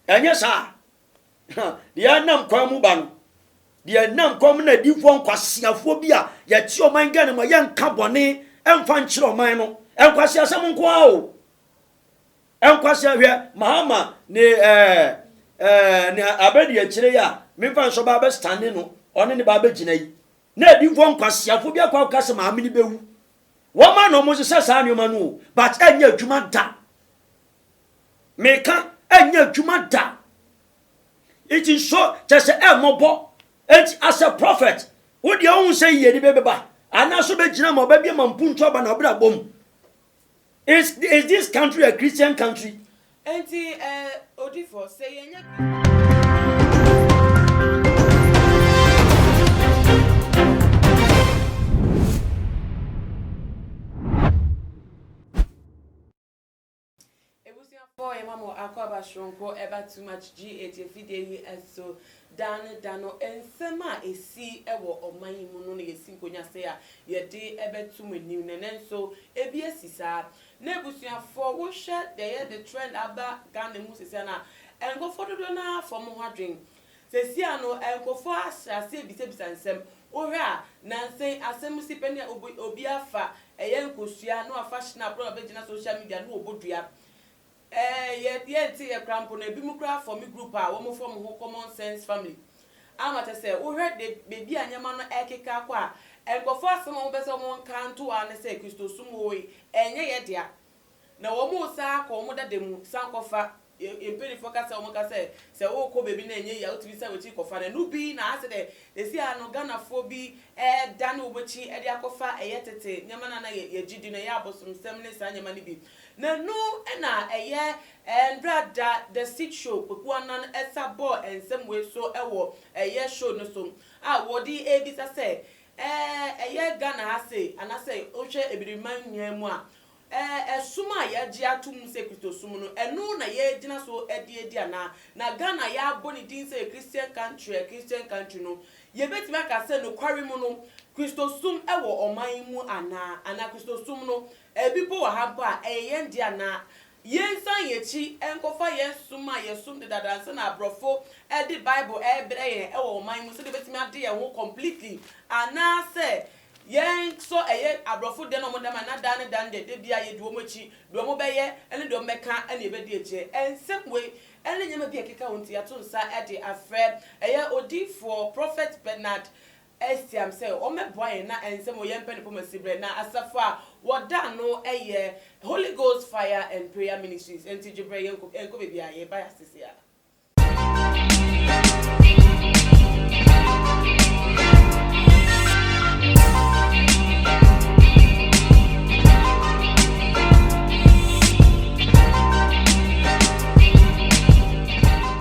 Anyɛ saa a, deɛ ɛnam kwan mu ba no, deɛ ɛnam kwan mu na adiyifoɔ nkwaseafoɔ bi a yɛte ɔman Ghana mu a yɛnka bɔne mfa nkyerɛ ɔman no, nkwaseasɛm nko ara o. Nkwasea hwɛ Mahama ne ɛɛ ɛɛ ne abɛdi akyire yi a memfa nhyɛ ɔbaa bɛstande no ɔne ne ba abɛgyina yi na adiyifoɔ nkwaseafoɔ bi akɔ akɔka sɛ maame no bɛwu. Wɔma na wɔsesa saa nneɛma no o but ɛnyɛ adwuma da. Meka, ɛnyɛ adwuma da. Nti nso kyɛ sɛ ɛmmɔbɔ. Nti as a prophet, wo deɛ wohu sɛ yiyedi bɛ bɛba? Anaa so bɛgyina ma ɔbɛbie ma mpuntu aba na ɔbrabɔ mu? Is, is this country a Christian country? Nti eh, odifo, sɛ yɛnyɛ Christian. Ebusuafo yɛma mo akɔaba soronko ɛba too much gye eti afidie yi so da ne da no nsɛm a esi wɔ ɔman yi mu no na yɛsi nkonya sɛ a yɛde ɛbɛto mo anim na nɛnso ebi asi saa na abusuafo wohwɛ deɛ yɛde trend aba Ghana mu sesɛ no a nkorɔfoɔ dodoɔ no ara afa ɔmo ho adwen Sesea no, nkorɔfoɔ ahyɛ aseɛ bisabisa nsɛm. Wohwɛ a, nansa yi asɛm no si pɛ ne a obi obi afa ɛyɛ nkosua na wafa schnapp na wabɛgyina social media na wɔbɔ dua. Ɛɛ yɛ yɛnteeɛ koraa mpo no, ebinom koraa fɔme group a wɔfrɛ wɔn ho Common Sense Family. Ama kyerɛ sɛ, wohwɛ de baabi a nneɛma no rekeka akɔ a, nkorɔfoɔ asɛm a wɔpɛ sɛ wɔka nto ara ne sɛ Kristosom oo, ɛnyɛ yɛn dea. na wɔresan akɔ wɔn dada mu san kɔfa, yɛn yɛn mpanimfoɔ ka sɛ wɔka sɛ sɛ worekɔ baabi na ɛnyɛ yie a wotumi san w'akyi kɔfa no, ɛno bi na asɛ dɛ sɛsi ara no Ghanafoɔ bi ɛredane wɔn akyi de akɔfa ɛyɛ tete nneɛma no a na yɛ yɛgye di no, ɛyɛ abosomsɛm ne saa nneɛma no bi, na ɛno na ɛyɛ ɛɛ Ndra Da, The Seed Show, Kweku Annan ɛsa bɔɔ nsɛm wei so wɔ ɛyɛ show no so a wɔde rebisa sɛ ɛɛ ɛyɛ Ghana ha sei anaasɛ wohwɛ Abiriman nyinaa mu a Ɛɛ ɛsom a yɛagye ato mu sɛ Kristosom no, ɛno na yɛagyina so de adi anaa? Na Ghana a yɛabɔ ne din sɛ Christian country a Christian country no, yɛbɛtumi aka sɛ nokware mu no, Kristosom wɔ ɔman yi mu anaa? Anaa Kristosom no, ebi mpo wɔ ha mpo a, ɛyɛ yɛn dea anaa? Yɛnsan yɛn akyi nkɔfa yɛn som a yɛsom dedaada ansa na aborɔfo de Bible rebrɛ yɛn wɔ ɔman yi mu sɛdeɛ yɛbɛtumi ade yɛn ho completely anaasɛ Yɛn nso ɛyɛ abrɔfo dɛ na ɔmo dɛm a na daa ne daa no dɛ da biaa yɛdi ɔmo akyi, deɛ ɔmo bɛyɛ ne deɛ ɔmo bɛka na yɛbɛdi akyiɛ. Nsɛm wei ne nneɛma bi a ɛkeka ho nti yɛato nsa de afrɛ ɛyɛ odiyifoɔ Prɔfɛt Bernard Estiam sɛ ɔmmɛboa yɛn na nsɛm wei yɛmpɛ no pɔ ma siberɛ. Na asafo a wɔda ano yɛ Holy Ghost Fire and Prayer Ministries, ɛnti gyebrɛ yɛnkɔ baabiaa, yɛreba yɛ ase seaa.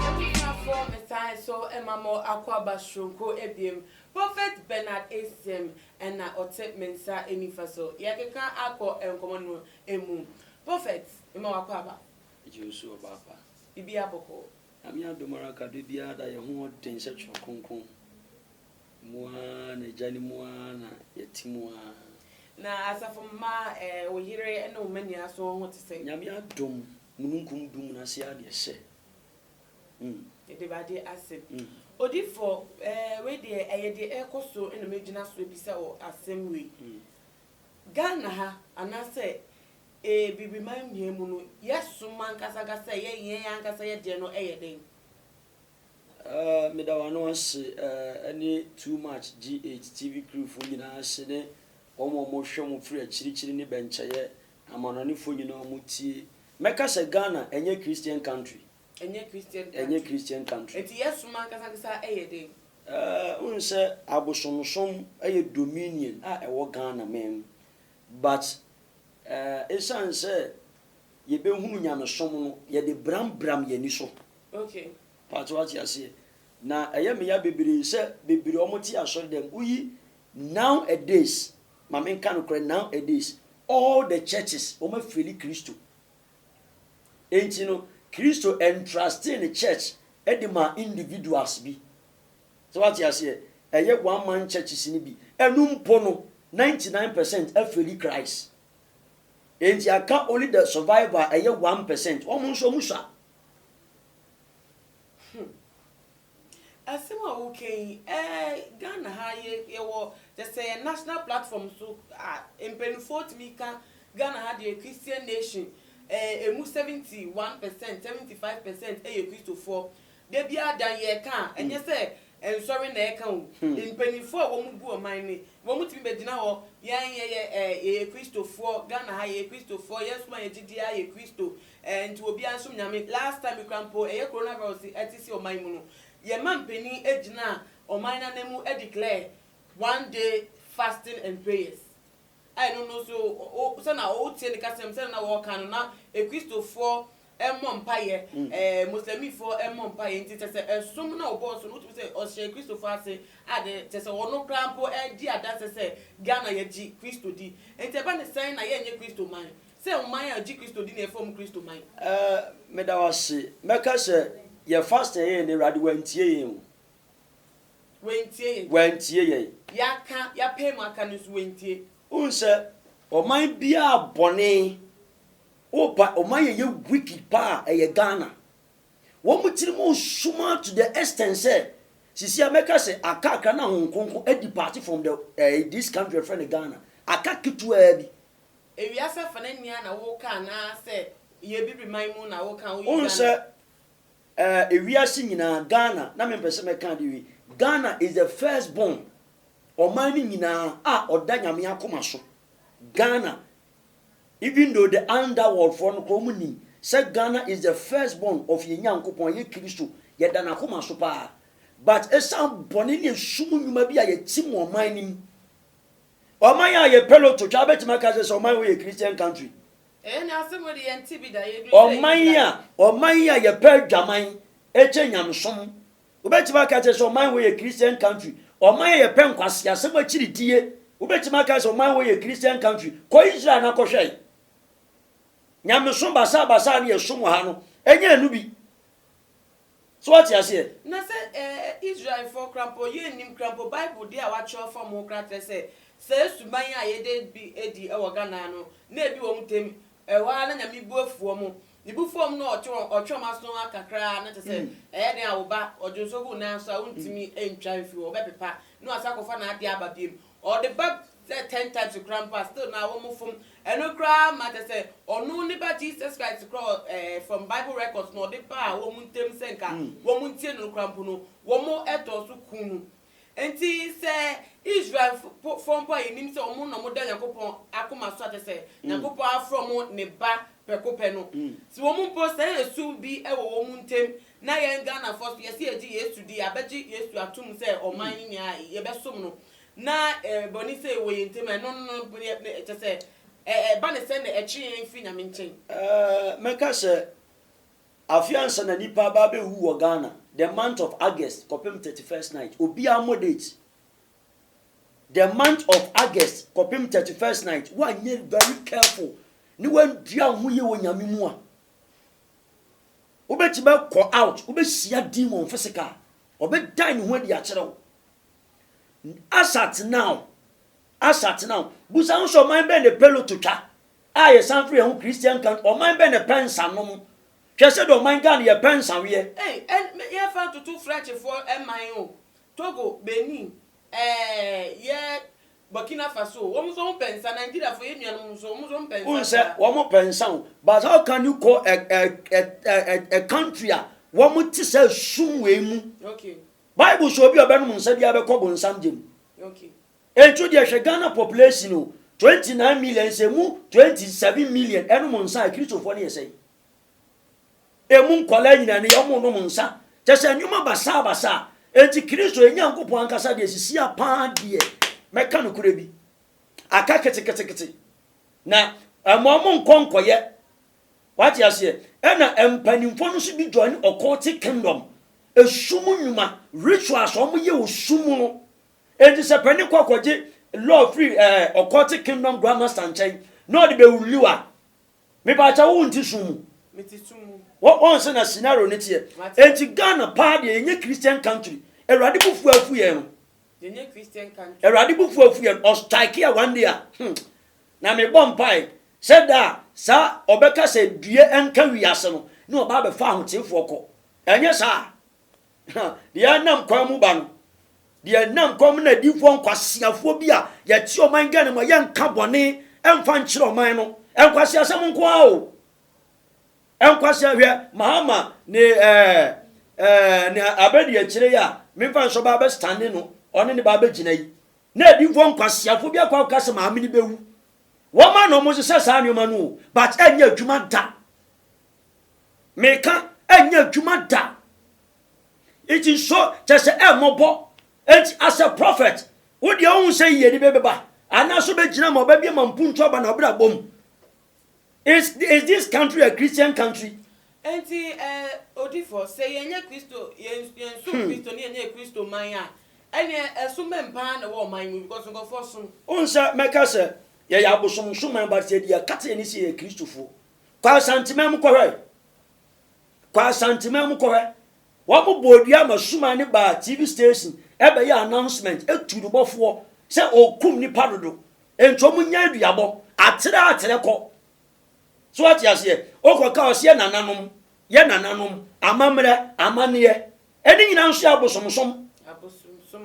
Abusuafoɔ mesan nso ma mo akwaaba soronko abiem, Prophet Bernard Asiam na ɔte me nsa nifa so. Yɛrekeka akɔ nkɔmmɔ no mu. Prophet, mema wo akwaaba. Gye wo so ɔbaapa. Bibia bɔkɔ. Nyame adom ara ka da biara da yɛn ho ɔden sɛ twerɛ kronkron mu ara na agya no mu ara na yɛte mu ara. Na asafo mma eh wo yere ne wo mma nyinaa so wɔn ho te sɛn? Nyame adom mununkum dum no ase ara deɛ sɛ mm. Yɛda Awurade ase. Odiyifoɔ eh wei deɛ ɛyɛ deɛ ɛrekɔ so na mɛgyina so abisa wo asɛm wei. Ghana ha anaasɛ Ee, biribi ma nhia mu no, yɛsom ankasa ankasa sɛ ɛyɛ yɛn ankasa yɛ deɛ no ɛyɛ den. Ɛɛ, meda wɔn ano ase, ɛɛ, ɛne Too Much GH TV crewfoɔ nyinaa ase ne wɔn a wɔhwɛ mo firi akyirikyiri ne bɛnkyɛeɛ, amanɔnefoɔ nyinaa a wɔtie. Mɛka sɛ Ghana ɛnyɛ Christian country. Ɛnyɛ Christian country. Ɛnyɛ Christian country. Enti yɛsom ankasa ankasa ɛyɛ den. Ɛɛ, wohu sɛ abosomsom ɛyɛ dominion a ɛwɔ Ghana man mu. But eh, esiane sɛ yɛbɛhunu nyamesom no, yɛde brambram yɛn ani so. Okay. Paatse wate aseɛ. Na ɛyɛ me ya bebree sɛ bebree wɔn te asɔre dɛm woyi now a days ma me nka no korɛ now a days all the churches wɔn afeli Kristo. Enti no Kristo entrustee ne church de maa individuals bi. So wate aseɛ? Ɛyɛ one man churches no bi. Ɛno mpo no, ninety nine percent afeli Christ. Enti aka only the survivor a ɛyɛ one percent. Wɔn nso wɔn sua. Hmm. Asɛm a woka yi, eh, Ghana ha yɛ, yɛwɔ, kyɛ sɛ yɛ national platform so a, mpanimfoɔ tumi ka Ghana ha deɛ Christian nation, eh, ɛmu seventy one percent, seventy five percent yɛ Kristofoɔ. Da biara da yɛka a, ɛnyɛ sɛ nsɔre na ɛka o. Mpaninfoɔ a wɔn gu ɔman no, wɔn tumi bɛgyina hɔ, yɛn yɛyɛ ɛɛ yɛyɛ Kristofoɔ, Ghana ha yɛyɛ Kristofoɔ, yɛn som a yɛgye di ara yɛ Kristo, ɛɛ nti obiara nsom Nyame. Last time koraa mpo, ɛyɛ Corona Virus ɛte si ɔman mu no, yɛma mpanin gyinaa ɔman no ananmu declare one day fasting and prayers. a ɛno no nso wo, sɛ na wotie ne kasam, sɛdeɛ na wɔka no, na Kristofoɔ mmɔ mpaeɛ, ɛɛ Moslɛmifoɔ mmɔ mpaeɛ, nti kyerɛ sɛ ɛsom na ɔbɔɔ so no, wotumi sɛ ɔhyɛɛ Kristofoɔ ase, a de kyerɛ sɛ ɔno koraa mpo di adanseɛ sɛ Ghana yɛgye Kristo di, nti ɛba ne sɛn na yɛnyɛ Kristo man, sɛ ɔman a ɔgye Kristo di na yɛfrɛ wɔn Kristo man. Ɛɛ, meda wo ase, mɛka sɛ yɛn fasting a yɛyɛ no Awurade wantie yɛn o, Wantie yɛn. Wantie yɛn. Yɛaka, yɛapae mu aka no nso, wantie. Wohu sɛ ɔman biara bɔne, wopa ɔman yɛ yɛ weak paa ɛyɛ Ghana. Wɔn tirim nsuma to the extent sɛ, sisi a mɛka sɛ aka akra na Honhom Kronkron adi paate from the eh, this country yɛfrɛ no Ghana. Aka ketewaa bi. Ewiase afa no ania na woka anaasɛ yɛn Abibiriman mu na woka, woyi Ghana. Wohu sɛ Eh ewiase nyinaa Ghana na me mpɛ sɛ mɛka adeɛ wei Ghana is the first born ɔman no nyinaa a ɔda nyame akoma so Ghana even though the under world foɔ no koraa ɔmo nim sɛ Ghana is the first born of yɛn Nyankopɔn ɛyɛ Kristo yɛda n'akoma so paa but esan bɔne ne esum nnwuma bi a yɛtim wɔ ɔman no mu ɔman a yɛpɛ lotto twa abɛtumi aka sɛ sɛ ɔman wei yɛ Christian country Ɔman a ɔman a yɛpɛ adwaman kyɛn nyamesom. Wobɛtumi aka kyerɛ sɛ ɔman wɔ yɛ Christian country. Ɔman a yɛpɛ nkwaseasɛm akyiridie. Wobɛtumi aka sɛ ɔman wɔ yɛ Christian country. Kɔ Israel na kɔhwɛ. Nyamesom basabasa ne yɛsom wɔ ha no, ɛnyɛ ɛno bi. So woate aseɛ? Na sɛ ɛɛ Israelfoɔ koraa mpo, yɛnnim koraa mpo, Bible deɛ a wɔatwerɛ fam ho koraa kyerɛ sɛ, saa suban yi a yɛda bi adi wɔ Ghana ha no, na ɛdi wɔn ntam, ɛhɔ ara na Nyame bu afu wɔn. Ne bu fam no a ɔtwe wɔn, ɔtwe wɔn aso ara kakra ara na kyerɛ sɛ, ɛyɛ dɛn a, wo ba, ɔdwo nsuo gu wo nan so a, wontumi ntwa mfiri hɔ, wɔbɛpepa, na wasan akɔfa n'adeɛ aba biom. ɔde ba sɛ ten times koraa mpo a still na wɔn fom ɛno koraa ma kyɛ sɛ ɔno ne ba Jesus Christ koraa wɔ ɛɛ eh, from bible records na ɔde baa wɔn ntɛm sɛ nka mm. wɔn ntie no koraa mpo no wɔn ɛtɔ so kun no nti sɛ Israel fo mpo a yɛnim sɛ wɔn na wɔn da Nyankopɔn akoma so akyɛ sɛ mm. Nyankopɔn afrɛ wɔn ne ba pɛko pɛ no mm. sɛ wɔn mpo sɛ ɛsum bi wɔ wɔn ntɛm Na yɛn Ghanafoɔ nso yɛse yɛgye Yesu di a bɛgye Yesu atom sɛ ɔman ne nea yɛbɛsom no na bɔne sei wɔ yɛn ntam a ɛno no kyɛsɛ ɛba ne sɛ na ɛtwe yɛn firi Nyame nkyɛn. Mɛka sɛ afe ansa na nipa aba abɛwu wɔ Ghana the month of August kɔpem 31st night obiara mmɔ date the month of August kɔpem 31st night woanyɛ very careful ne woandua wo ho yie wɔ Nyame mu a Wobɛtumi akɔ out, wobɛhyia demon physical, ɔbɛdan ne ho adi akyerɛ wo. As at now, as at now, busa ho sɛ ɔman bɛn na Peloto twa a yɛsan firi yɛn ho Christian country, ɔman bɛn na ɛpɛ nsa nom? Hwɛ sɛdeɛ ɔman Ghana yɛpɛ nsa weɛ. Ei ɛn me yɛmfa ntoto Frenchfoɔ man o, Togo, Benin, ɛɛɛ yɛ Burkina Faso o, wɔn nso wɔn pɛ nsa, Nigeria fo yɛn nuanom nso wɔn nso wɔn pɛ nsa saa. Wohu sɛ wɔn pɛ nsa o, but how can you call a a a a a country a wɔn te sɛ sum wei mu? Okay. Bible sɛ obi a ɔbɛnom nsa biara bɛkɔ bonsam gya mu. Okay. Enti deɛ hwɛ Ghana population o, 29 million, sɛ emu 27 million ɛnom nsa a, Akristofoɔ no yɛ sɛn? Emu nkwadaa nyinaa ne yɛ, wɔnnom nsa. Kyerɛ sɛ, nneɛma basabasa. Enti Kristo, yɛn Nyankopɔn ankasa deɛ, sisi ha paa deɛ, mɛka nokorɛ bi, aka ketekete. Na mma wɔnnkɔ nkɔyɛ. Woate aseɛ? Ɛnna mpanimfoɔ no nso bi joine occultic kingdom, esum nnwuma, rituals a wɔyɛ wɔ sum mu no. Enti sɛ panin kɔ akɔgye law firi ɛɛ occultic kingdom grandmaster nkyɛn na ɔde bɛwuliw a, Me pa kyɛ wo nte sum mu. Wɔn sɛ na scenario ne teɛ. Enti Ghana paa deɛ yɛnyɛ Christian country. Awurade bo fuo afu yɛn no. Awurade bo fuo afu yɛn. Ɔstrike a one day a. Hmm. Na me bɔ mpae sɛ da a saa ɔbɛka sɛ due nka wiase no na ɔba abɛfa ahoteefoɔ kɔ. Ɛnyɛ saa. Deɛ ɛnam kwan mu ba no, deɛ ɛnam kwan mu na adiifoɔ nkwaseafoɔ bi a yɛte ɔman Ghana mu a yɛnka bɔne ɛmfa nkyerɛ ɔman no. Nkwaseasɛm nko ara o. Nkwaseɛ hwɛ Mahama ne ɛɛ ɛɛ ne abɛdi akyire yi a memfa nhyɛ ɔbaa bɛstane no ɔne ne baa bɛgyina yi. Na adiifoɔ nkwaseafoɔ bi akɔ akɔka sɛ maame no bɛwu. Wɔma na wɔhyehyɛ saa nneɛma no o but ɛnyɛ adwuma da. meka ɛnyɛ adwuma da nti nso kyɛ sɛ ɛmmɔbɔ nti asɛ prɔfɛt wo deɛ wohu sɛ yiyedi bɛ bɛba anaso bɛgyina ma ɔbɛbie ma mpuntu aba na ɔbrɛ abɔ mu is, is this country a christian country nti eh, odifo sɛ yɛnyɛ kristo yɛnso hmm. kristo ne yɛnyɛ kristo man a ɛneɛ ɛsom bɛn paa na ɛwɔ ɔman mu because nkɔfoɔ som wohu sɛ mɛka sɛ yɛyɛ abosomsom man but sɛ deɛ ɛkate ne sɛ yɛ kristofoɔ Kɔ Asanteman mu kɔhwɛ. Kɔ Asanteman mu kɔhwɛ. Wɔn bɔɔ dua ma Suma ne baa TV station ɛbɛyɛ announcement etu no bɔfoɔ sɛ ɔkum nipa dodo. Nti wɔn nya aduabɔ. Atere atere kɔ. So ate aseɛ? Okɔ ka ɔseɛ nananom. Yɛ nananom. Amammerɛ. Amaneɛ. Ɛne nyinaa nso yɛ abosomsom.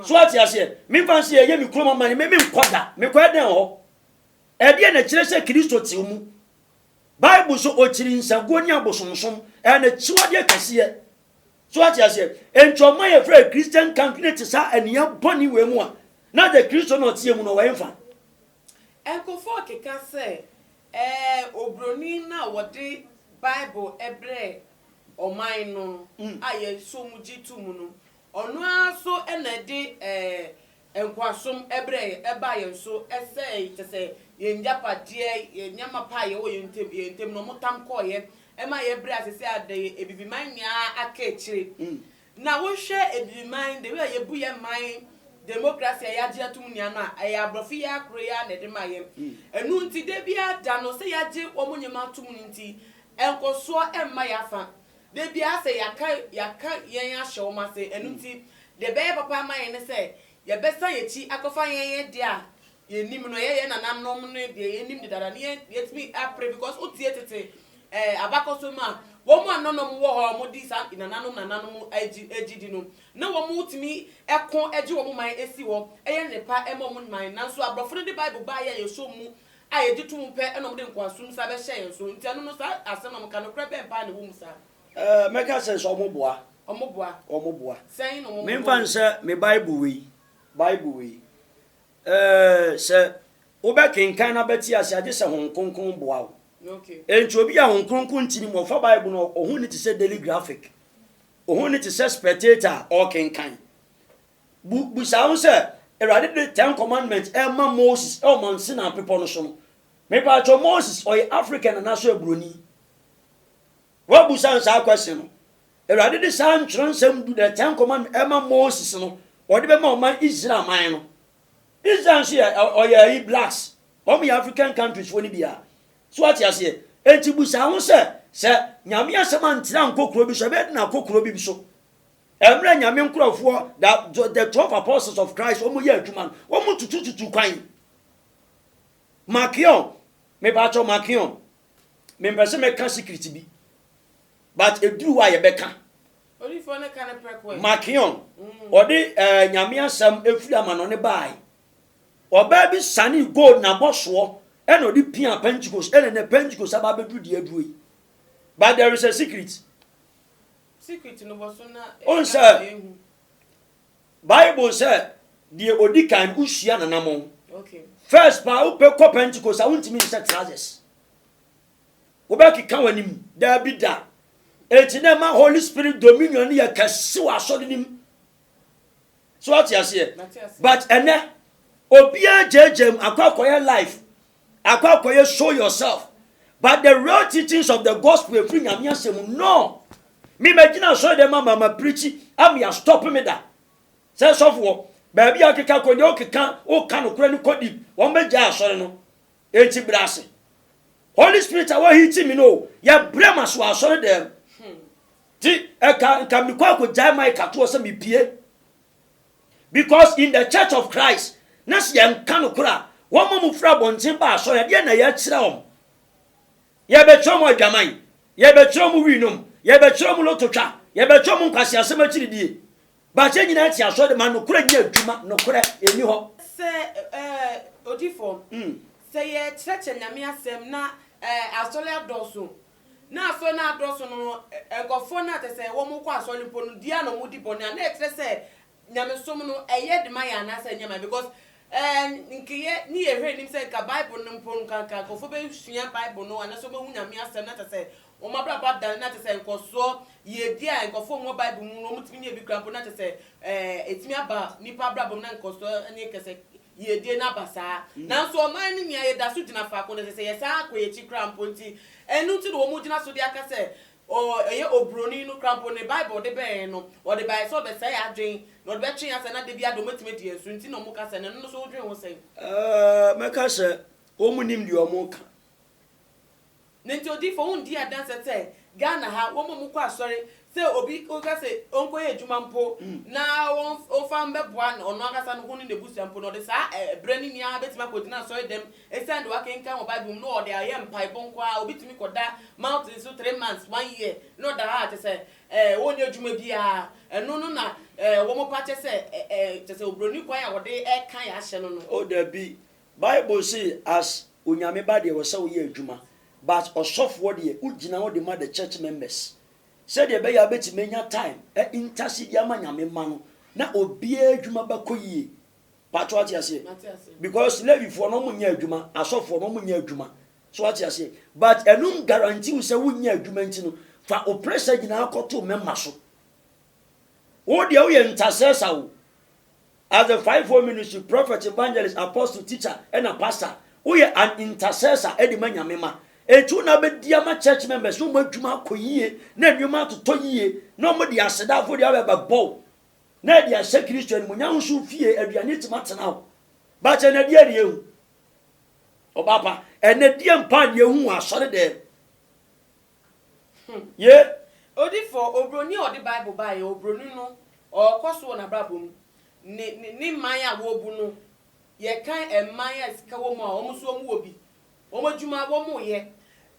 So ate aseɛ? Memfa nse ɛyɛ me kurom amane me menkɔ da. Mekɔ ɛdɛn hɔ? Ɛdeɛ na ɛkyerɛ sɛ Kristo te mu. bible so ɔkyiri nsaguo ne abosomsom ɛyɛ n'akyiwadeɛ kɛseɛ so ate aseɛ enti ɔma yɛfrɛ christian country ne te saa aniya bɔne wei mu a na de kristo na ɔteɛ mu no ɔwɔ ɛmfa Nkurɔfoɔ keka sɛ ɛɛ obroni no a wɔde bible brɛɛ ɔman no a yɛsɔ mu gye to mu no Ɔno ara nso na ɛde ɛɛ nkoasom brɛɛ yɛn, ɛbaa yɛn so, ɛsɛee, kyerɛ sɛ, yɛn agyapadeɛ, yɛn nneɛma pa a yɛwɔ yɛn ntam, yɛn ntam no, wɔtam kɔeɛ. Ɛma yɛbrɛɛ ase sɛ adɛn? Abibiman nyinaa aka akyire. Na wohwɛ Abibiman, the way a yɛbu yɛn man, democracy a yɛagye atom nyinaa no a, ɛyɛ aborɔfo yi ara koro yi ara na ɛde ma yɛn. Ɛno nti, da biara da no, sɛ yɛagye wɔn nneɛma atom no nti, nkɔsoɔ mma yɛn afa. Da biara sɛ yɛaka yɛaka yɛn ahyɛ wɔn ase. Ɛno nti, deɛ ɛbɛyɛ papa ama yɛn ne sɛ yɛbɛsan yɛn akyi akɔfa yɛn yɛn deɛ a yɛnim no, ɛyɛ yɛn nananom ne deɛ yɛnim dedaada no, yɛn yɛatumi apere because wotie tete ɛɛ abakɔsɛm a, wɔn a nananom wɔ hɔ a wɔdi saa nananom nananom agyi agyidi no, na wɔtumi ko gye wɔn man si hɔ, yɛ nnepa ma wɔn man. Nanso aborɔfo no de Bible baeɛ a yɛsɔ mu a yɛgye to mu pɛ na wɔde nkoasom sa bɛhyɛ yɛn so, nti ɛno no saa asɛm na moka, nokorɛ bɛn paa na ɛwɔ mu saa? Ɛɛ, mɛka sɛ, sɛ wɔboa. Wɔboa. Wɔboa. Sɛn na wɔboa? Memfa nsɛ me Bible wei, Bible wei. Ɛɛ, sɛ wobɛkenkan na bɛte aseɛ a, gye sɛ Honhom Kronkron boa wo. Okay. Enti obi a Honhom Kronkron nti ne mu, ɔfa Bible no, ɔho nni te sɛ Daily Graphic. Ɔho nni te sɛ Spectator a ɔrekenkan. Bu bisa ho sɛ, Awurade de Ten Commandments rema Moses wɔ Mount Sinai bepɔ no so no, mepaatwɔ Moses ɔyɛ African anaasɛ ɔyɛ Buroni? Woabu san saa question no? Awurade de saa ntwerɛnsɛm du the Ten Commandments rema Moses no, ɔde bɛma ɔman Israel man no. Israel nso yɛ ɔyɛ ayi blacks, wɔn yɛ African countries foɔ no bi a. So wate aseɛ? Enti bu saa ho sɛ, sɛ Nyame asɛm antra nkɔ kuro bi so, ɛbɛyɛ den akɔ kuro bi so. Mmerɛ Nyame nkorɔfoɔ, da, the twelve apostles of Christ, wɔn yɛ adwuma no, wɔn tutututu kwan. Makeon, me ba kyɛw Makeon, me mpɛ sɛ mɛka secret bi, but eduru wa yɛ bɛka. Odifoɔ ne ka ne prɛko ɛ. Makeon, ɔde mm. ɛɛ eh, Nyame asɛm efiri ama no ne baae. Ɔbaa bi sane gold na bɔ soɔ, ɛna ɔde pia Pentecost, ɛna na Pentecost aba abɛduru deɛ aduro yi. But there is a secret. Wohu sɛ, Bible sɛ deɛ ɔdi kan no wosua nanamɔ. First paa wopɛ kɔ Pentecost a wontumi nhyɛ trousers. Wobɛkeka w'anim daabi da. Enti na ɛma Holy Spirit dominion no yɛ kɛse wɔ asɔre no mu. So wate aseɛ? But ɛnɛ obiara gyagya mu akɔ akɔyɛ life Akɔ akɔyɛ show yourself. But the real teachings of the gospel ɛfiri Nyame asɛm no. Me magyina asɔre dɛm ama ma preachi ama ya stop me da. Sɛ sɔfoɔ baabi a wokeka kɔ deɛ wokeka woka nokorɛ no kɔ deep wɔn bɛgyae asɔre no. Enti brɛ ase. Holy spirit a wa hiti me no o yɛ brɛ ma se wɔ asɔre dɛm. Ti ɛka nka mekɔ akɔgyae mic atoɔ sɛ mepie. Because in the church of Christ na sɛ yɛnka nokorɛ a wɔn a wɔfiri abɔnten ba asɔre a deɛ na yɛkyerɛ wɔn? Yɛbɛkyerɛ wɔn adwaman, yɛbɛkyerɛ wɔn wii nom, yɛbɛkyerɛ wɔn loto twa, yɛbɛkyerɛ wɔn nkwaseasɛm akyiridie. But yɛn nyinaa te asɔre ma nokorɛ nyɛ adwuma, nokorɛ ɛnni hɔ. Sɛ odifoɔ, sɛ yɛkyerɛkyerɛ Nyame asɛm na asɔre adɔɔso Na asɔre no ara dɔɔso no, nkorɔfoɔ no a kyerɛ sɛ wɔn kɔ asɔre mpo no, dua na wɔn di bɔne a, na ɛkyerɛ sɛ nyamesom no ɛyɛ de ma yɛn anaa sɛ ɛnyɛ ma yɛn because ɛɛ nkeyɛ ne yɛ hwɛ anim sɛ nka bible no mpo nka nka nkorɔfoɔ bɛ sua bible no anaa sɛ wɔn bɛ hu Nyame asɛm na kyerɛ sɛ wɔn abrabɔ adane na kyerɛ sɛ nkɔsoɔ yie bi a nkorɔfoɔ wɔ bible mu no wɔn tumi nya bi koraa mpo na kyerɛ sɛ ɛɛ ɛtumi aba nipa abrabɔ mu na nkɔsoɔ ɛnyɛ kɛseɛ. yiedie no aba saa. Nanso ɔman no nyi a yɛda so gyina faako no, ɛsɛ sɛ yɛsan kɔ yɛn akyi koraa mpo. Enti ɛno nti na wɔgyina so de aka sɛ ɔ, ɛyɛ oburoni no koraa mpo, ne Bible a ɔde bɛn yɛn no, ɔde baeɛ sɛ ɔde bɛsɛe yɛn adwene, na ɔde bɛtwe yɛn asɛe, na da biara deɛ wɔatumi adi yɛn so nti na wɔka sɛ no. Ɛno nso wodwen ho sɛn? Ɛɛ, mɛka sɛ wɔnnim deɛ wɔreka. Na nti odiyifo wo ndi adanse sɛ Ghana ha wɔn a wɔkɔ asɔre sɛ obi ka sɛ ɔnkɔyɛ adwuma mpo na wɔmfa mmɛboa ɔno ankasa no ho ne n'abusua mpo no ɔde saa berɛ no nyinaa bɛtumi akɔgyina asɔre dɛm ɛsiane deɛ wakenkan wɔ Bible mu na ɔde ayɛ mpaebɔ nko ara obi tumi kɔda mountain so three months one year na ɔda hɔ a kyɛ sɛ ɛɛ ɔnyɛ adwuma biara ɛno no na ɛɛ wɔn pa kyɛ sɛ ɛɛ kyɛ sɛ obroni kwan a wɔde ɛka yɛ ahyɛ no no. O dabi Bible se as onyame ba deɛ ɔsɛ woyɛ adwuma but ɔsɔfoɔ deɛ wogyina hɔ dema the church members sɛdeɛ ɛbɛyɛ a wobɛtumi anya time a intase de ama nyame mma no na obiara adwuma bɛkɔ yie paatɔ wate aseɛ because levifoɔ no wɔnyɛ adwuma asɔfoɔ no wɔnyɛ adwuma so wate aseɛ but ɛno guarantee wo sɛ wonyɛ adwuma nti no fa wo pressure nyinaa kɔto mɛma so wo deɛ woyɛ ntasɛsa wo As the fivefold ministry, prophet, evangelist, apostle, teacher ɛna pastor, woyɛ an intercessor ɛde ma Nyame ma. Enti wo na abɛdi ama church members na wɔn adwuma akɔ yie na nneɛma atotɔ yie na wɔn de aseda afɔdeɛ aba bɛbɔ wo na ɛde ahyɛ Kristo animuonyam nso wo fie aduane atumi atena hɔ. But ɛnɛ deɛ deɛ ehu. Ɔbaapa, ɛnɛ deɛ mpa deɛ ehu wɔ asɔre dɛm. Hmm, ye. Odifo, oburoni a ɔde Bible baeɛ, oburoni no, ɔrekɔ so wɔ n'abrabɔ mu. Ne, ne, ne man a wɔrebu no, yɛkan man a sika wɔ mu a, wɔn nso wɔwɔ bi. Wɔn adwuma, wɔreyɛ.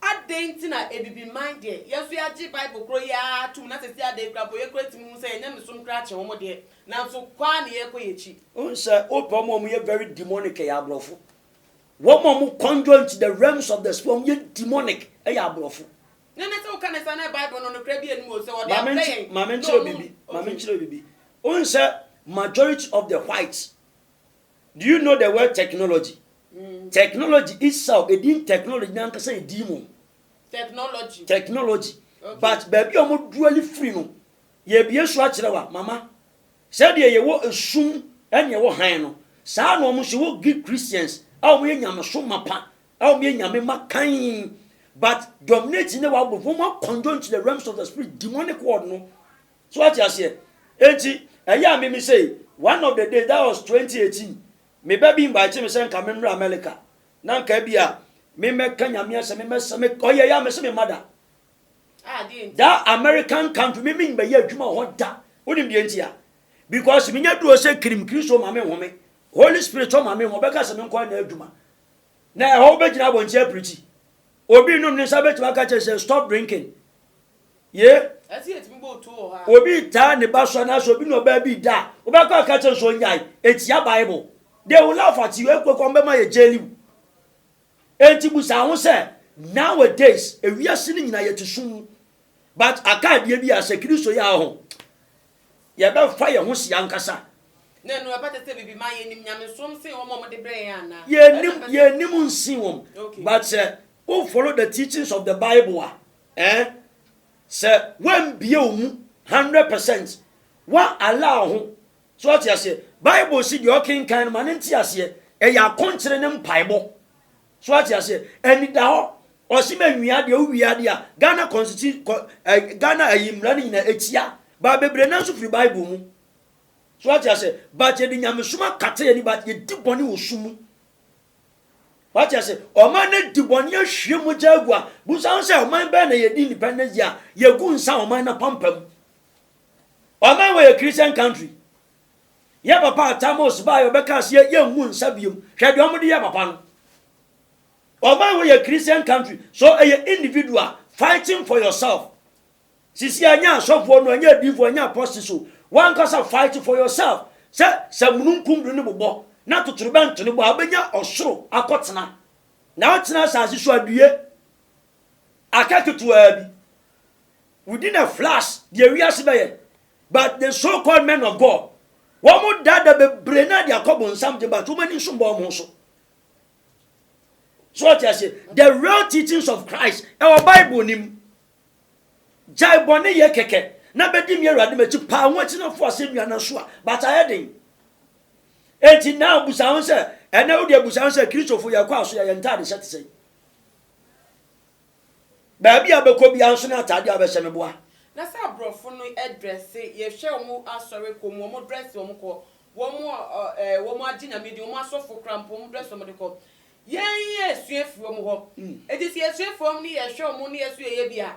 Adɛn nti na Abibiman deɛ, yɛn nso yɛagye Bible korɔ yi ara atom, na seesei adɛn koraa mpo, yɛkura tumi hu sɛ yɛn nyamesom koraa kyɛn wɔn deɛ, nanso kɔ ara na yɛrekɔ yɛn akyi? Wohu sɛ, wopɛ wɔn a wɔyɛ very demonic, ɛyɛ aborɔfo. Wɔn a wɔn conjoint, the realms of the spirit, wɔn yɛ demonic, yɛ aborɔfo. Ne ne sɛ woka ne saa na Bible no nokorɛ bi anim o sɛ wɔde afrɛ yɛn na wɔn nkyerɛ bibi maame nkyerɛ bibi wohu sɛ majority of the whites do you know the word technology mm. technology itself edin technology nankasa edin mu technology technology okay. but baabi a wɔn duali firi no yɛbie so akyerɛ wa mama Sɛdeɛ yɛwɔ esum ɛne ɛwɔ hann no, saa ara na wɔn nso wɔ Greek Christians a wɔyɛ nyamesom mapa a wɔyɛ nyame mma kann but dominating na wɔabɔ wɔn a conjoin to the realms of the spirit demonic world no so ate aseɛ enti ɛyɛ a me me say one of the day that was 2018 me ba bi invite me sɛ nka me mmra America na nka bi a me mmɛka nyame asɛ me mmɛsɛ me ɔyɛ yɛ a me se me mada That American country, me mean bɛyɛ adwuma wɔ hɔ da. Wonim deɛ nti a? Because menya duro sɛ kirim Kristo ma me nhome. Holy Spirit tɔ ma me ho, ɔbɛka sɛ menkɔ na adwuma. Na ɛhɔ wobɛgyina abɔnti apirikyi. Obi nom ne nsa bɛtumi aka kyerɛ sɛ stop drinking. Ye? Obi taa ne ba so anaasɛ obi ne ɔbaa bi da a, wobɛkɔ aka kyerɛ nso ɔnyae. Ɛtia Bible. They will laugh at you, ɛkɔkɔ mbɛma yɛ jail you. Enti bisa ho sɛ, Nowadays ewiase no nyina yɛte sum mu, but aka adeɛ bi a sɛ Kristo yɛ a ho, yɛbɛfa yɛn ho si ankasa? Na ɛno ɛbɛte sɛ bibi ma yɛnim nyamesom sen wɔn a wɔde brɛ yɛn anaa? Yɛnim, yɛnim nsen wɔn, but sɛ wo follow the teachings of the Bible a, eh, sɛ woambie wo mu hundred percent, woa allow ho So ɔte aseɛ? Bible se deɛ ɔkenkan no ma no nte aseɛ. Ɛyɛ akonkyere ne mpaebɔ. So ɔte aseɛ? Anida hɔ, ɔse ma nwia deɛ wowie adeɛ a, Ghana constitution, kɔ, eh, Ghana ayi mmara no nyinaa ɛtia. Ba bebree nanso firi Bible mu. So ɔte aseɛ? But yɛde nyamesom akata yɛni but yɛdi bɔne wɔ su mu. Wate ase, ɔman no di bɔne ahwie mogya agu a, busa ho sɛ ɔman bɛn na yɛdi independence deɛ a, yɛgu nsa ɔman no apampam. Ɔman wei yɛ Christian country. Yɛ papa Atamos baeɛ ɔbɛkaa sɛ yɛmmu nsa biom. Hwɛ deɛ ɔmode yɛ papa no. Ɔman wei yɛ Christian country so ɛyɛ individual fighting for yourself. Sisi ɛnyɛ asɔfoɔ no ɛnyɛ adiifoɔ ɛnyɛ apɔste so wankasa fight for yourself sɛ sɛ mununkum do ne bobɔ na totorobɛnto ne bɔ a bɛnya ɔsoro akɔtena na wotena asase so adue aka ketewaa bi We didn't have flash deɛ wiase bɛyɛ but the so called men of God wɔn dada bebree na de akɔ bonsam de but wɔn ani nso bɔ wɔn so so ɔte ase the real teachings of Christ ɛwɔ Bible nim gyae bɔne yɛ kɛkɛ na bɛdi mi awurade m'akyi paa wɔn akyi na fo asɛ nua na so a but ayɛ den eti na abusa ho sɛ ɛnɛ wo de abusa ho sɛ kristofo yɛ kɔ aso yɛ yɛ ntaade hyɛ te sɛ Baabi a bɛkɔ biara nso na ataadeɛ a bɛhyɛ no boa. Na sɛ abrɔfo no drɛse, yɛhwɛ wɔn asɔre kɔ mu, wɔn drɛse wɔn kɔ, wɔn eh, wɔn agye nyame din, wɔn asɔfo kora mpo wɔn drɛse wɔn de kɔ. Yɛn yɛsua firi wɔn hɔ. Hmm. Eti sɛ yɛsua firi wɔn ne yɛhwɛ wɔn ne yɛso yɛyɛ bi a,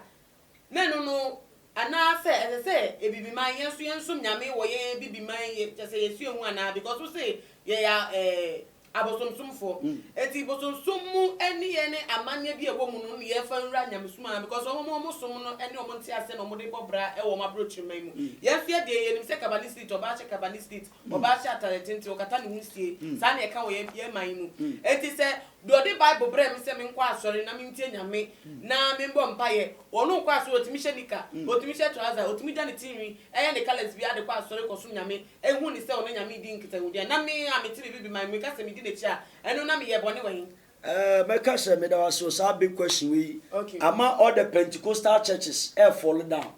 na ɛno no anaasɛ ɛsɛ sɛ ebibiman yɛn nso yɛnsom nyame wɔ yɛn ebibiman yɛ kyɛ sɛ yɛsua hu anaa because wo se yɛyɛ eh, abosomsomfoɔ nti bosomsom mu nneyɛɛ ne amanneɛ bi a ɛwɔ mu no ne yɛmfa nwura nyamesom anaa because wɔn a wɔn som no ne wɔn nteaseɛ na wɔn de bɔ bra wɔ wɔn abrokyeman mu yɛn nso yɛdeɛ yɛnim sɛ kabanistit ɔbaa hyɛ kabanistit ɔbaa hyɛ atare tenten ɔkata ne ho sie saa na ɛka wɔ yɛn yɛn man yi mu nti sɛ deɛ ɔde bible brɛ me sɛ menkɔ asɔre na mentie nyame na membɔ mpaeɛ ɔno nkɔ asɔre ɔtumi hyɛ nika ɔtumi hyɛ trouser ɔtumi dwa ne tinwi ɛyɛ ne colours bi ade kɔ asɔre kɔsom nyame ehu no sɛ ɔno Nyame redi nkitahodi a, na me a mete me biribi man mu meka sɛ medi n'akyi a, ɛno na meyɛɛ bɔne wɔ he? Eh, mɛka sɛ, Meda wo ase wɔ saa big question wei yi. Okay. Ama all the Pentecostal churches ɛ fall down,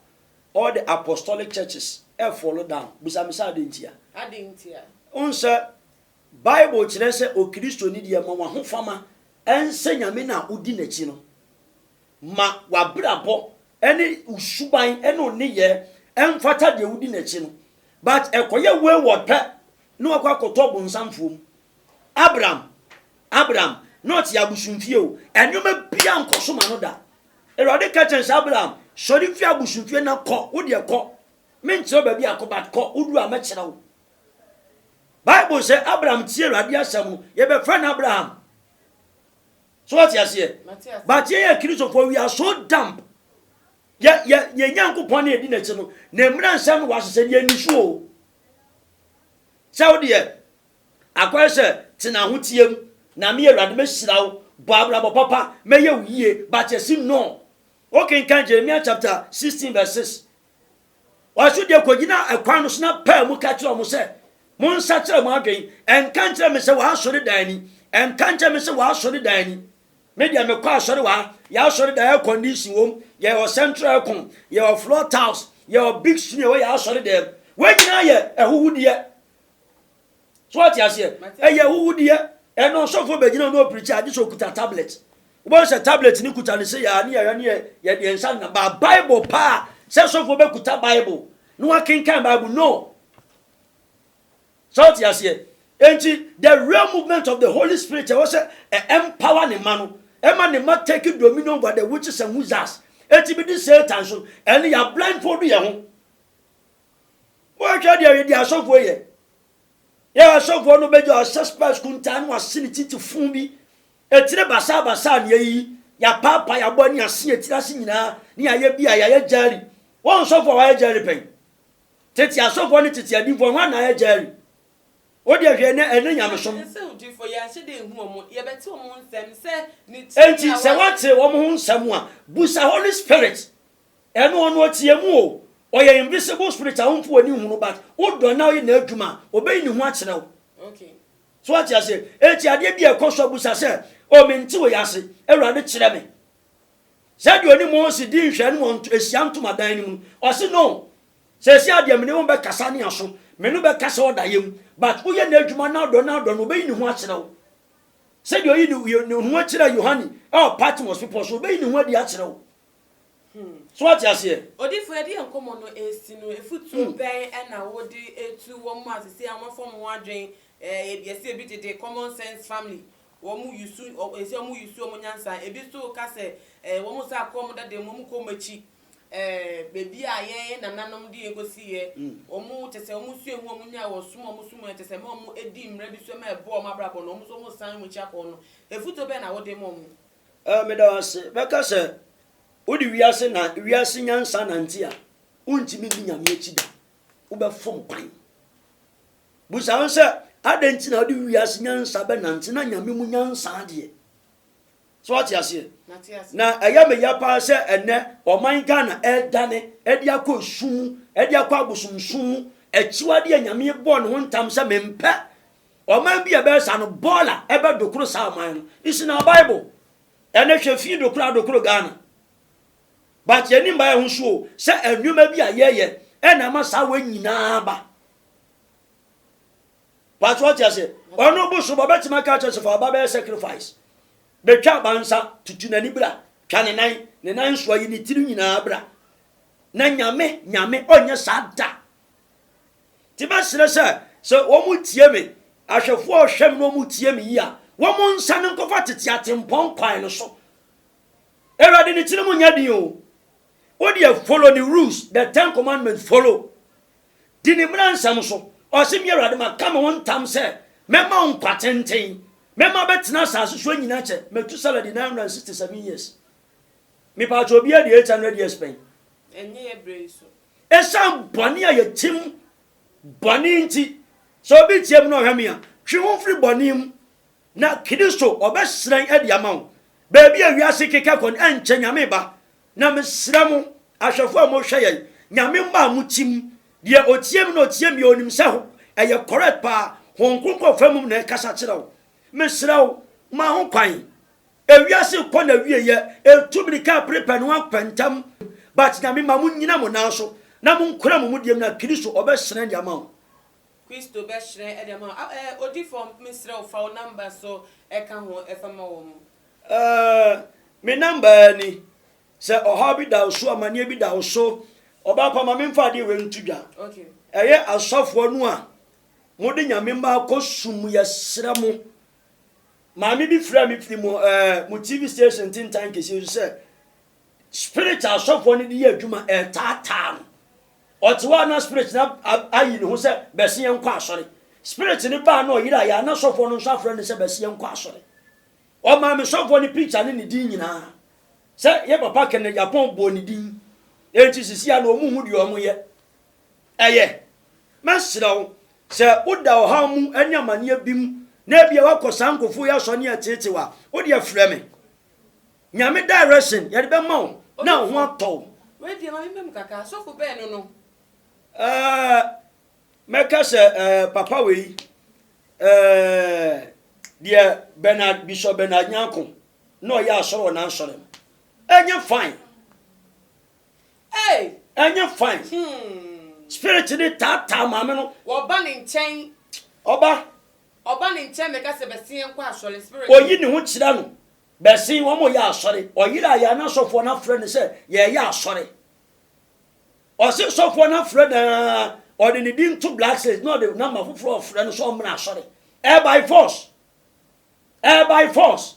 all the Apostolic churches ɛ fall down. Bisa me sɛ adɛn ntia? Adɛn ntia? Wohu sɛ, Bible kyerɛ sɛ Okristoni deɛ, ma w'ahofama ɛnsɛ Nyame na wodi n'akyi no. Ma w'abrabɔ ne wo suban ne wo nneyɛɛ mfata deɛ wodi n'akyi no. But ɛkɔyɛ wayward pɛ na wakɔ akɔtɔ ɔbonsamfoɔ mu. Abram, Abram, na ɔte abosomfie o, nneɛma biara nkɔ so ma no da. Awurade ka kyerɛ sɛ, Abram, sɔre firi abosomfie na kɔ, wo deɛ kɔ. Menkyerɛ wo baabi akɔ, but kɔ, wodu a mɛkyerɛ wo. Bible sɛ Abram tie Awurade asɛm no, yɛbɛfrɛ no Abraham. So wate aseɛ? But yɛyɛ akristofoɔ we are so dump. Yɛ yɛ yɛ Nyankopɔn na yɛdi n'akyi no na mmira nsɛm no wɔahyehyɛ deɛ ni so o. Sɛ wo deɛ akɔyɛ sɛ tena ho tie mu na me awurade mɛhyira wo bɔ abrabɔ papa mɛyɛ wo yie but yɛsi no. Wokenkan Jeremia chapter 16 verse 6 Wɔn nso deɛ kɔgyinaa ɛkwan no so na paa mu ka kyerɛɛ wɔn sɛ, Monsakyera mo adwene. Ɛnka nkyerɛ me sɛ wɔ asɔredan ni. Ɛnka nkyerɛ me sɛ wɔ asɔredan ni. Me deɛ mekɔ asɔre wɔ ha. Yɛ asɔredan air condition wom. Yɛwɔ central aircon. Yɛwɔ floor tiles. Yɛwɔ big screen ɛwɔ yɛ asɔredan mu. Wɔn nyinaa yɛ ahuhudeɛ. so ɔte aseɛ ɛyɛ ahuhudeɛ ɛno ɔsɔfoɔ bɛgyina no ɔpirikyi agye sɛ ɔkuta tablet wobɛhu sɛ tablet no kuta ne sɛ yɛa ne yɛhwɛ ne yɛde yɛn nsa nna baa bible paa sɛ sɔfoɔ bɛkuta bible na wakenkan bible no so ɔte aseɛ enti the real movement of the holy spirit ɛwɔ sɛ ɛmpower ne ma no ɛma ne ma take dominion over the witches and wizards ɛti bi de satan so ɛne yɛ blindfold yɛ ho Woahwɛ deɛ ɔyɛ deɛ asɔfoɔ yɛ. Yɛ asɔfoɔ no bɛgya ɔhyɛ spɛs kuntaa no wase ne titi fun bi. Etire basaa basaa ne ayi. Yɛapaapa yɛabɔ ne ase etire ase nyinaa ne yɛayɛ bi a yɛayɛ gyɛɛri. Wɔn sɔfoɔ a wɔayɛ gyɛɛri pɛn? Tete asɔfoɔ ne tete adiifoɔ hwan na ayɛ gyɛɛri? Wo deɛ hwɛ ɛnɛ ɛnɛ nyamesom. Enti sɛ woate wɔn ho nsɛm a busa Holy Spirit. Ɛno ɔno ɔteɛ mu o. Ɔyɛ invisible spirit a wompo w'ani nhu no but wo dɔ na woyɛ n'adwuma a, ɔbɛyi ne ho akyerɛ wo. So woate aseɛ? Enti adeɛ bi a ɛkɔ so a bisa sɛ, O mente wei ase, Awurade kyerɛ me. Sɛdeɛ ɔne Mose dii nhwɛanim wɔ nto, ahyia ntomadan no mu no, ɔse no, Seesei a deɛ mene wo bɛkasa ne aso, me no bɛkasa ɔdaeɛ mu, but woyɛ n'adwuma na wodɔ na wodɔ no, ɔbɛyi ne ho akyerɛ wo. Sɛdeɛ ɔyii ne, ne ho kyerɛɛ Yohane wɔ Patmos bepɔ so, ɔbɛyi ne ho adi akyerɛ wo. Hmm. So wate aseɛ? Odifo ɛde yɛ nkɔmɔ no ɛsi no efutuo hmm. bɛn ɛna wode etu wɔn mu asese a wɔn fam ho adwen ɛɛ eh, ebi ɛsi ebi dede common sense family wɔn mu yusu ɛsi wɔn mu yusu wɔn nyansa ebi so ka sɛ ɛɛ eh, wɔn sa kɔ wɔn dada mu wɔn kɔ wɔn akyi ɛɛ eh, beebi a yɛn nananom de yɛn kosi yɛ hmm. wɔn kyɛ sɛ wɔn sua ehu wɔn nya wɔ som wɔn som yɛ kyɛ sɛ wɔn edi mmerɛ bi so ɛma ɛbɔ wɔn abrabɔ no wɔn so wɔn san wɔn akyi akɔ no efutuo bɛn na wode ma wɔn. Ɛ, meda wo ase. Bɛka sɛ, Wode wiase na, wiase nyansa nante a, wontumi nni Nyame akyi da. Wobɛfom kwan. Busa wo ho sɛ, adɛn nti na wode wiase nyansa bɛnante na Nyame mu nyansa deɛ? So wate aseɛ? Na ɛyɛ me ya paa sɛ ɛnɛ ɔman Ghana ɛredane ɛde akɔ esum mu, ɛde akɔ abosomsom mu, akyiwadeɛ a Nyame bɔɔ ne ho ntam sɛ mempɛ Ɔman bi a ɛbɛyɛ saa no, bɔɔla ɛbɛ dokoro saa ɔman no. It's in our Bible. Ɛnɛ hwɛ fii dokoro a dokoro Ghana. But yɛn nim baayɛ ho so o, sɛ nneɛma bi a yɛyɛ ɛna ama saa wɔ nyinaa ba. But what you say? Ɔno bosom ɔbɛtumi aka kyerɛ sɛ fa ɔba bɛyɛ sacrifice. Betwa aba nsa, tutu n'ani bra, twa ne nan, ne nan nsoa yi ne tiri nyinaa bra. Na nyame, nyame ɔnyɛ saa da. Enti mɛsrɛ sɛ, sɛ wɔtie me, ahwɛfoɔ a wɔhwɛ me na wɔtie me yie a, wɔnsane nkɔfa tete atempɔn kwan no so. Awurade ne tirim nyɛ den o. Wo deɛ follow ne rules, the ten commandments follow. Di ne mmara nsɛm so. Ɔse me Awurade maka me ho ntam sɛ mɛma wo nkwa tenten. Mɛma bɛtena asase so anyina kyɛ. Metusala di 967 years. Mepaakyɛ obiara di 800 years pɛn. Ɛnyɛ yɛ berɛ yi so. Esiane bɔne a yɛtim bɔne nti, sɛ obi teɛ mu na ɔhwɛ me a, twe ho firi bɔne mu, na Kristo ɔbɛhyerɛn adi ama wo. Baabi a wiase keka kɔ no ɛnkyɛ Nyame ba, na mesrɛ mo ahwɛfoɔ a mohwɛ yɛn, Nyame mma a motim, deɛ ɔtie me na ɔtie me a ɔnim sɛ ɛyɛ correct paa, Honhom Kronkron fa mu na ɛkasa kyerɛ wo. Mesrɛ wo, ma ho kwan, Ewiase rekɔ n'awieɛ, ɛntu mirika a bere pɛ no ankɔ ntɛm, but Nyame ma mo nyina mo nan so na mo nkora mo mudie mu na Kristo ɔbɛ hyerɛn de ama wo. Kristo bɛ hyerɛn de ama wo. Ah eh, odifɔ me srɛ wo fa wo number so ɛka ho ɛfa ma wɔ mo. Eh, me number eh ni, sɛ ɔhaw bi da wo so, amaneɛ bi da wo so, ɔbaa pa ma me nfa adeɛ wei nto dwa. Okay. Ɛyɛ asɔfoɔ no a mode Nyame mma kɔ sum mu yɛsrɛ mo. Maame bi frɛɛ me firi mo ɛɛ eh, mo TV station ntentan kɛseɛ so sɛ spirit asɔfoɔ no de yɛ adwuma ɛretaataa no. Ɔte hɔ a na spirit no ayi ne ho sɛ bɛse yɛn nkɔ asɔre. Spirit no baa na ɔyera yɛ a na sɔfoɔ no nso afrɛ no sɛ bɛse yɛn nkɔ asɔre. Ɔmaa me sɔfoɔ no picture ne ne din nyinaa sɛ yɛ papa kɛnɛ Japan bɔɔ ne din. Enti sisi a na wɔn ho deɛ wɔn yɛ. Ɛyɛ. Mɛsrɛ wo, sɛ woda ɔhaw mu ne amanneɛ bi mu, na ebia woakɔ saa nkurɔfoɔ yi asɔre ne yɛteetee wo a, wo deɛ frɛ me. Nyame direction yɛde bɛma wo na wo ho atɔ wo. Wei deɛ ma me mma mu kakra, sɔfo bɛn no no? Ɛɛ, mɛka sɛ ɛɛ papa wei, ɛɛ deɛ Bernard, Bishop Bernard Nyarko, na ɔyɛ asɔre wɔ n'asɔre no. Ɛnyɛ fine. ɛnyɛ fine hmm. spirit ne taataa maame no wɔba ne nkyɛn ɔba ɔba ne nkyɛn mɛka sɛ bɛsen yɛn kɔ asɔre spirit oyi ne ho kyerɛ no bɛsen wɔn mo yɛ asɔre ɔyere a yɛn anasɔfoɔ no afrɛ no sɛ yɛyɛ asɔre ɔse sɔfoɔ no afrɛ naa ɔde ne din to black says na ɔde namba foforɔ ɔfrɛ no sɛ ɔmmra asɔre ɛyɛ by force ɛyɛ by force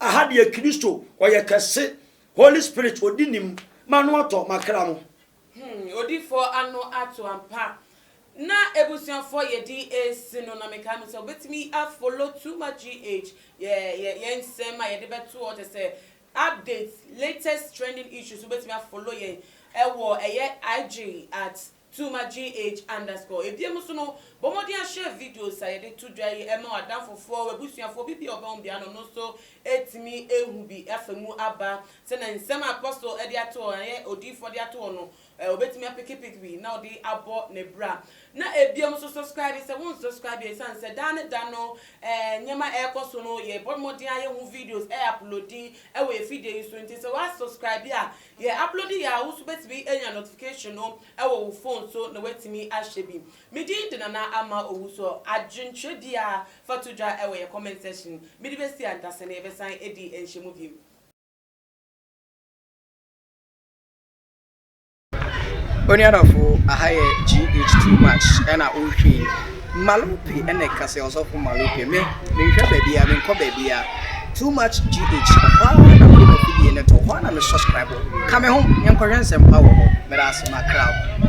Aha deɛ Kristo ɔyɛ kɛse. Holy spirit odi nim ma no atɔ makra mo. Hmm odifoɔ ano ato ampa. Na abusuafoɔ yɛde resi no na mekae mu sɛ wobɛtumi a follow too much GH yɛ yɛn nsɛm a yɛde bɛto hɔ kyɛ sɛ updates latest trending issues wobɛtumi a follow yɛn ɛwɔ ɛyɛ IG at Tuma GH underscore. Ebiem nso no, bɔ mmɔden ahyɛ videos a yɛde to dwa yi ma w'adamfofoɔ, w'abusuafoɔ, obi bi a ɔbɛn wo biara no, ɔno nso atumi ahu bi afa mu aba, sɛdeɛ nsɛm a ɛkɔ so de ato hɔ, ɛyɛ odiyifoɔ de ato hɔ no, ɔbɛtumi apekepeke bi na ɔde abɔ ne bra. Na ebiem nso, subscribe sɛ wonsubscribe a, ɛsiane sɛ daa ne da no nneɛma ɛrekɔ so no, yɛbɔ mmɔden a yɛhu videos ɛuploadi wɔ yɛn fidie yi so nti, sɛ woasubscribe a, Yɛ upload yɛ a wo nso bɛtumi anya notification no wɔ wo phone so na woatumi ahwɛ bi. Me din de Nana Ama Owusu. Adwenkyerɛ biara fa to dwa wɔ yɛ comment section. Mede bɛsi ankasa na yɛbɛsan adi nhyiamu bio. Onuadɔfo aha yɛ GH too much ɛna wohwii. Malope ɛna ɛka sɛ ɔsɔfo Malope me menhwɛ baabi a menkɔ baabi a too much gh ɔhɔ ara na mede mafidie no to hɔ ara na me subscribe ka me ho yɛnkɔhwɛ nsɛmpa wɔ hɔ meda ase makra wo.